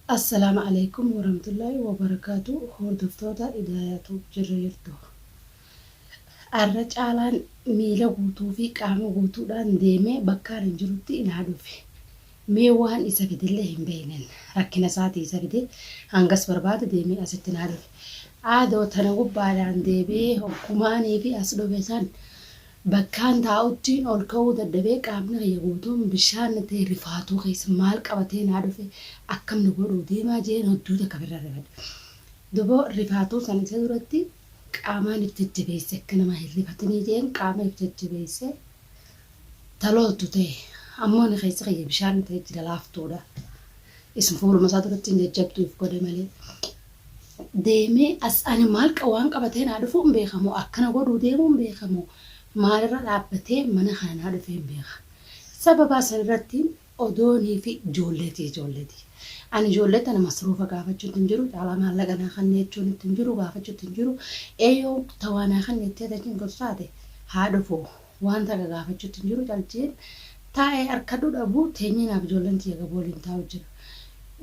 Assalama Aleykum Woramtullahi Wobarakatu Hordoftoota Idaaya Tube Jirra Jirtu Arra Caalaan Miila Guutuu fi Qaama Guutuudhaan Deemee Bakka Anin Jirutti Naa Dhufe Mee Waan Isa Fidelle Hin Beeynen Rakkina Isaatii Isa Fide Hangas Barbaade Deemee Asitti Naa Dhufe Aadoo Tana Gubbaadhaan Deebi'ee Hoggumaanii fi As Dhufe San Bakkaan taa'uttiin ol ka'uu dadhabee qaamni kiyya guutuun bishaan na ta'e rifaatuu keessa maal qabatee naa dhufe akkam na godhuu deemaa jeen hodduu takka firra rifadhe. Dubo rifaatuu san isa duratti qaamaan if jajjabeesse akka nama hin rifatinii jeen qaama if jajjabeesse ta looltu ta'e ammoo ni keessi kiyya bishaan na ta'e jira laaftuudha. Isn fuuluma isaa duratti hin jajjabdu if godhe malee. deeme as ani maal waan qabatee naa dhufuu hin beeka moo akkana godhuu deemuu hin beeka moo maalirra dhaabbatee mana kana naa dhufee hin beeka sababaa sanirratti odoo niifi ijoolleeti ijoolleeti ani ijoollee tana masruufa gaafachuutti hin jiru caalaa maallaqa naa kanni jechuun itti hin jiru gaafachuutti hin jiru eeyoo tawaa naa kanni jettee tachiin gorsaate haa dhufuu. Waan takka gaafachuutti hin jiru caljiin taa'ee arkadhu dhabu teenyee naaf ijoolleen tiyya gaboo waliin taa'u jira.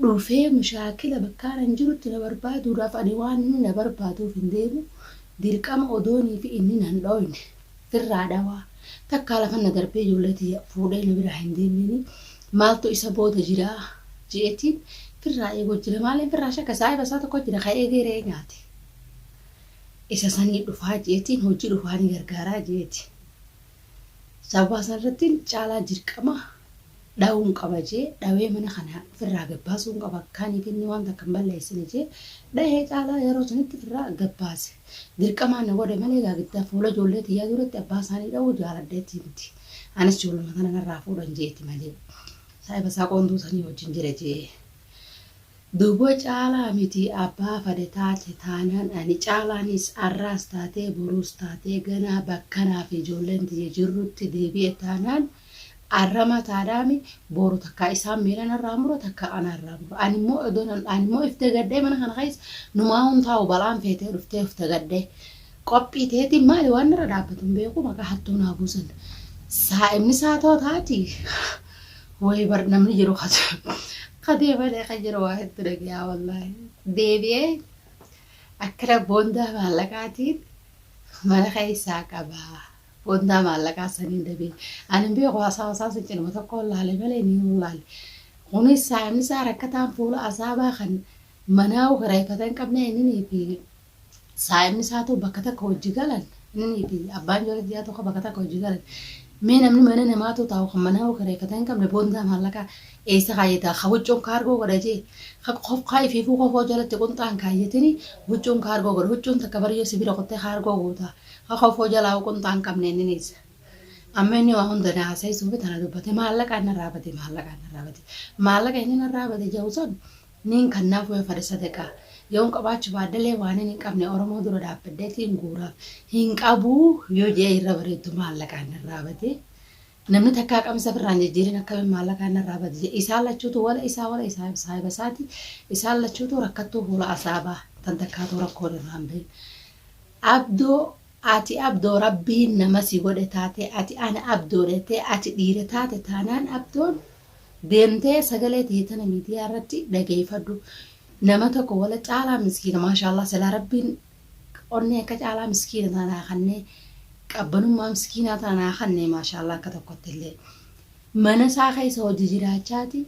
Dhufee mushaakila bakkaan an jirutti na barbaaduudhaaf ani waan inni na barbaaduuf hin deemu dirqama odoonii fi inni nan dhooyne firraa dhawaa takkaa lafan na darbee ijoollee tiyya fuudhee na biraa hin deemnini maaltu isa booda jira je'eetiin firraa eegoo jira maaleen firraa shakka saahiba isaa tokko jira ka eegee re'ee nyaate. isa sanii dhufaa jeetiin hojii dhufaa ni gargaaraa jeeti. Sababaa san irrattiin caalaa dirqama dhawuun qaba jee dhawee mana kana firraa gabbaasuun qaba akkaaniif inni waan takka hin balleessine jee dhahee caalaa yeroo sanitti firraa gabbaase. Dirqamaan na godhe malee gaa giddaa fuula ijoollee tiyyaa duratti abbaa isaanii dhawuu jaaladheetii miti. Anis ijoolluma tana narraa fuudhan jeeti malee. Saahiba isaa qoonduu sanii wajjin jira jee. Dubo caalaa miti abbaa fade taate taanaan ani caalaanis arraas taatee boruus taatee ganaa bakka anaa fi ijoolleen tiyya jirrutti deebi'e taanaan arrama taadhaami boru takkaa isaan miila narraa mura takkaa ana irraa mura ani immoo odoon an ani immoo if dagadhee mana kana keessa numaahuu hin taa'u balaan feetee dhuftee of dagadhee qophii teetiin maali waan narra dhaabbatu hin beeku maqaa hattuu naa buusan saa'imni saatoo taati Wayii bar namni jiru katee malee kan jiru waa hedduu dhagayaa wallaahi. Deebi'ee akkana boondaa maallaqaatiin mana keessaa qaba. Boondaa maallaqaa saniin dabee. Ani hin beeku haasaa haasaa sun cinuma tokkoon laale malee ni hin laale. Kunis saamisaa rakkataan fuula asaabaa kan manaa kireeffatan qabnee inni fi saahibni isaa too bakka takka wajji galan innii fi abbaan joorajjaa tokko bakka takka wajji galan mee namni mana namaa too taa'u kan manaa kireeffata hin qabne boondaa maallaqaa eessa kaayyataa ka huccuun kaargoo godha jee ka kofkaa ifiifuu kofoo jalatti qunxaan kaayyatini huccuun kaargoo godha huccuun takka bariyyoo sibira kuttee kaargoo goota ka kofoo jalaa'u qunxaan qabne inni niisa. amma inni waa hunda na haasa'isuufi tana dubbate maallaqaan narraa bade maallaqaan narraa bade maallaqa inni narraa bade ja'u san Niin kannaaf wayoo fada sadaqaa yoon qabaachu baadhelee waanin hin qabne oromoo dura dhaabbadheetiin guuraaf hin qabuu yoo je'ee irra bareeddu maallaqaan narraa bade namni takkaa qamisa firraan jijjiirin akkamiin maallaqaan narraa badi je'e isaan lachuutu wala isaa wala isaa saahiba isaati isaan lachuutu rakkattuu fuula asaabaa tan takkaatuu rakkoon irraa hin bahin abdoo ati abdoo rabbiin nama si godhe taate ati ana abdoo dhetee ati dhiira taate taanaan abdoon Deemtee sagalee tee tana miidiyaa irratti dhageeyfadhu. Nama tokko wala caalaa miskiina maashaallaah silaa rabbiin onnee akka caalaa miskiina tana naa kannee qabbanummaa miskiinaa tana naa kannee maashaallaah akka tokkotti illee. Mana isaa keessa hojii jiraachaati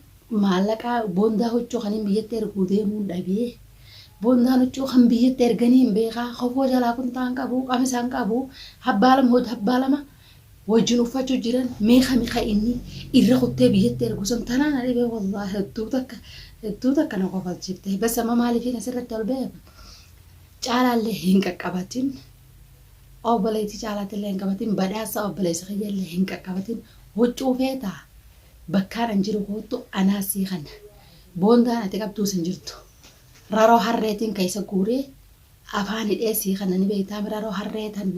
maallaqaa boondaa huccuu kaniin biyyatti erguu deemuun dhabee boondaan huccuu kan biyyatti erganii hin beekaa kofoo jalaa kuntaa hin qabu qamisa hin qabu habbaalama hod habbaalama wajjin uffachu jiran mee kami ka inni irra kuttee biyyatti ergu san tanaa na dhibee wallahi hedduu takka hedduu takka na kofalchiifte bas amma maalifiin asirratti ol ba'e caalaallee hin qaqqabatin obboleetti caalaatillee hin qabatin badhaasa obboleessa kiyyallee hin qaqqabatin huccuu feetaa bakkaan an jiru koottu anaa sii kana boondaan ati qabduu sin jirtu raroo harreetiin keessa guuree afaan hidhee sii kana ni beektaa raroo harree tan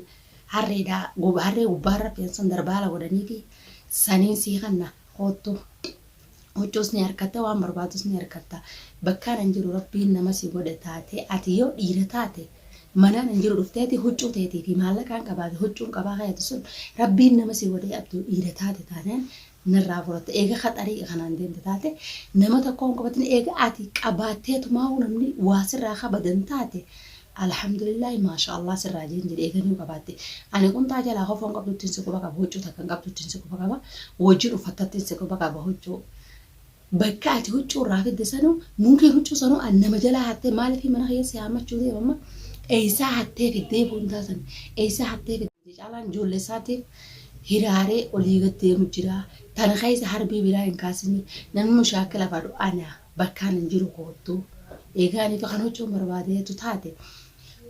Harreedhaa harree gubbaa rafeen san darbaala godhaniifi saniin sii kanna koottu huccuus ni harkatta waan barbaadus ni harkatta bakkaan an jiru rabbiin nama si godhe taate ati yoo dhiira taate manaan an jiru dhufteeti huccuu teetii fi maallaqaan qabaate huccuun qabaa kayatu sun rabbiin nama si godhee abduu dhiira taate taanaan narraa furatta. Eega ka xariiqa kanaan deemte taate, nama tokko hin qabatin eega ati qabaatteetumaahuu namni waa sirraa kabadan taate, Alhamdulillaahi maashaa Allaah sirraa jeen jedhi eega nuu qabaatte. Ani qunxaa jalaa kofoo hin qabduttiin si quba qaba, huccuu takka hin qabduttiin si quba qaba, wojjiin uffattattiin si quba qaba, huccuu. Bakka ati huccuu irraa fidde sanu munkeen huccuu sanu an nama jalaa hatte maaliif mana kiyya si haammachuu deema amma eessaa hattee fiddee boontaa san eessaa hattee fiddee caalaan ijoollee isaatiif hiraaree olii gad deemu jira tana keessa harbii biraa hin kaasini namni mushaakila fadhu ana bakkaan hin jiru koottu eegaa aniitu kan huccuun barbaadeetu taate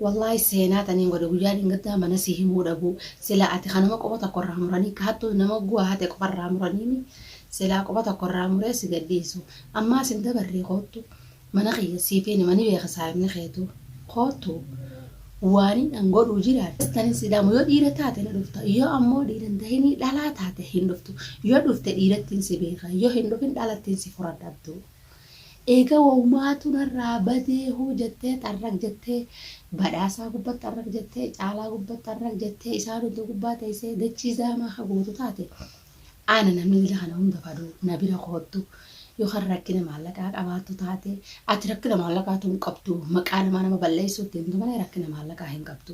Wallahi seenaa taniin godhe guyyaa dhingaddaa mana si himuu dhabuu silaa ati ka nama quba tokko irraa muranii ka hattuu nama guwaa hate qofa irraa muraniimi silaa quba tokko irraa muree si gadhiisu ammaas hin dabarree koottu mana kiyya siifi nima ni beeka saahibni keetu koottu waanin an godhuu jiraadhe tanin si dhaamu yoo dhiira taate na dhufta yoo ammoo dhiira hin tahinii dhalaa taate hin dhuftu yoo dhufte dhiirattiin si beeka yoo hin dhufin dhalattiin si furadha abduu. Eega wawumaatu narraa badee huu jettee xarraq jettee Badhaasaa gubbat xarraq jettee Caalaa gubbat xarraq jettee isaan hunduu gubbaa teessee dachii zaamaa ka guutu taate ana namni ila kana hunda fadu na bira koottu yoo kan rakkina maallaqaa qabaattu taate ati rakkina maallaqaatu hin qabdu maqaa namaa nama balleessuutti himtu malee rakkina maallaqaa hin qabdu.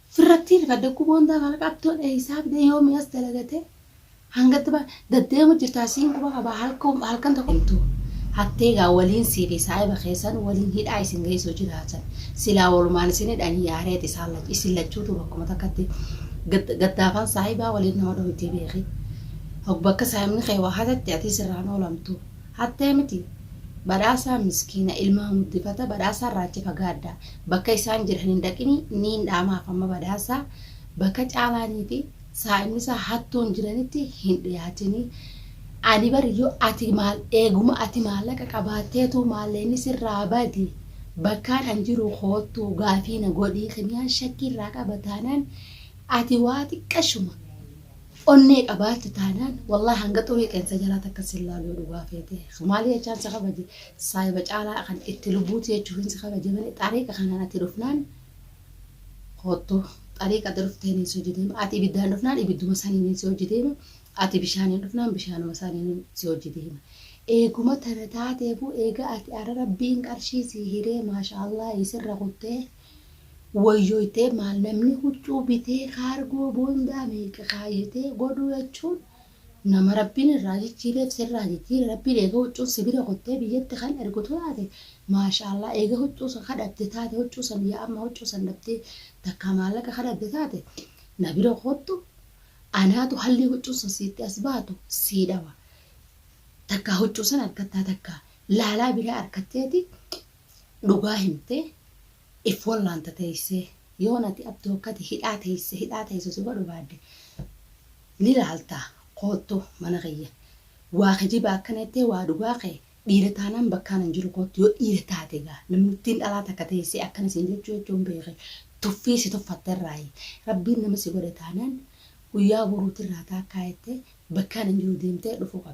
Firrattii rifadde quboon taa kana qabtoo dhee hisaab dee yoo mi'as dalagatee hangatti ba daddeemu jirtaa siin quba qabaa halka halkan tokko himtuu hattee gaa waliin sii fi saahiba keessan waliin hidhaa isin geessuu jiraatan silaa walumaan isin hidhan yaareet isaan lach isin lachuutu bakkuma takkatti gad gaddaafaan saahibaa waliin nama dhowwitii beeki hog bakka saahibni kee waa hatatte atii sirraan oolamtu Hattee miti. Badhaasaa miskiina ilmaa muddifata badhaasaa irraa achi fagaadha bakka isaan jiran hin dhaqini niin dhaamaaf amma badhaasaa bakka caalaanii fi saa'imnisaa hattuun jiranitti hin dhiyaatini ani bar yoo ati maal eeguma ati maallaqa qabaatteetuu maalleenni sirraa bade bakkaan an jiruu koottuu gaafii na godhii kiniyaan shakkii irraa qaba taanaan ati waa xiqqashuma Onnee qabaatte taanaan wallahi hanga xurii qeensa jalaa takka sin laalu yoo dhugaa feete. Maalii jechaan si kabaje saahiba caalaa kan itti lubbuuti jechuufin si kabaje malee xariiqa kanaan ati dhufnaan koottu xariiqa ati dhufteen si hojii deema ati ibiddaan dhufnaan ibidduma saniin si hojii deema ati bishaaniin dhufnaan bishaanuma saniin si hojii deema. Eeguma tana taateefuu eega ati ara rabbiin qarshii si hiree maasha Allah isirra kuttee Woyyoytee maal namni huccuu bitee kaargoo boondaa meeqa kaayyatee godhuu jechuun nama rabbiin irraa jijjiireef sirraa jijjiire rabbiin eega huccuun si bira kuttee biyyatti kan ergutu taate maashaallah eega huccuu san ka dhabde taate huccuu san yaa amma huccuu san dhabdee takkaa maallaqa ka dhabde taate na bira koottu anaatu hallii huccuun san siitti as baatu sii dhawa takkaa huccuu san argattaa takkaa laalaa biraa arkatteeti Dhugaa himte if wallaanta teesse yoon ati abdu akkati hidhaa teesse hidhaa teesse si barbaadde ni laalta koottu mana kiyya waa kijibaa akkana jettee waa dhugaa kee dhiira taanaan bakkaan hin jiru koottu yoo dhiira taate egaa namnittiin dhalaa takka teessee akkana siin jechuu jechuun beeke tuffii si tuffatte irraayi rabbiin nama si godhe taanaan guyyaa boruuti irraa taakkaa jettee bakkaan hin jiru deemtee dhufuu qabda.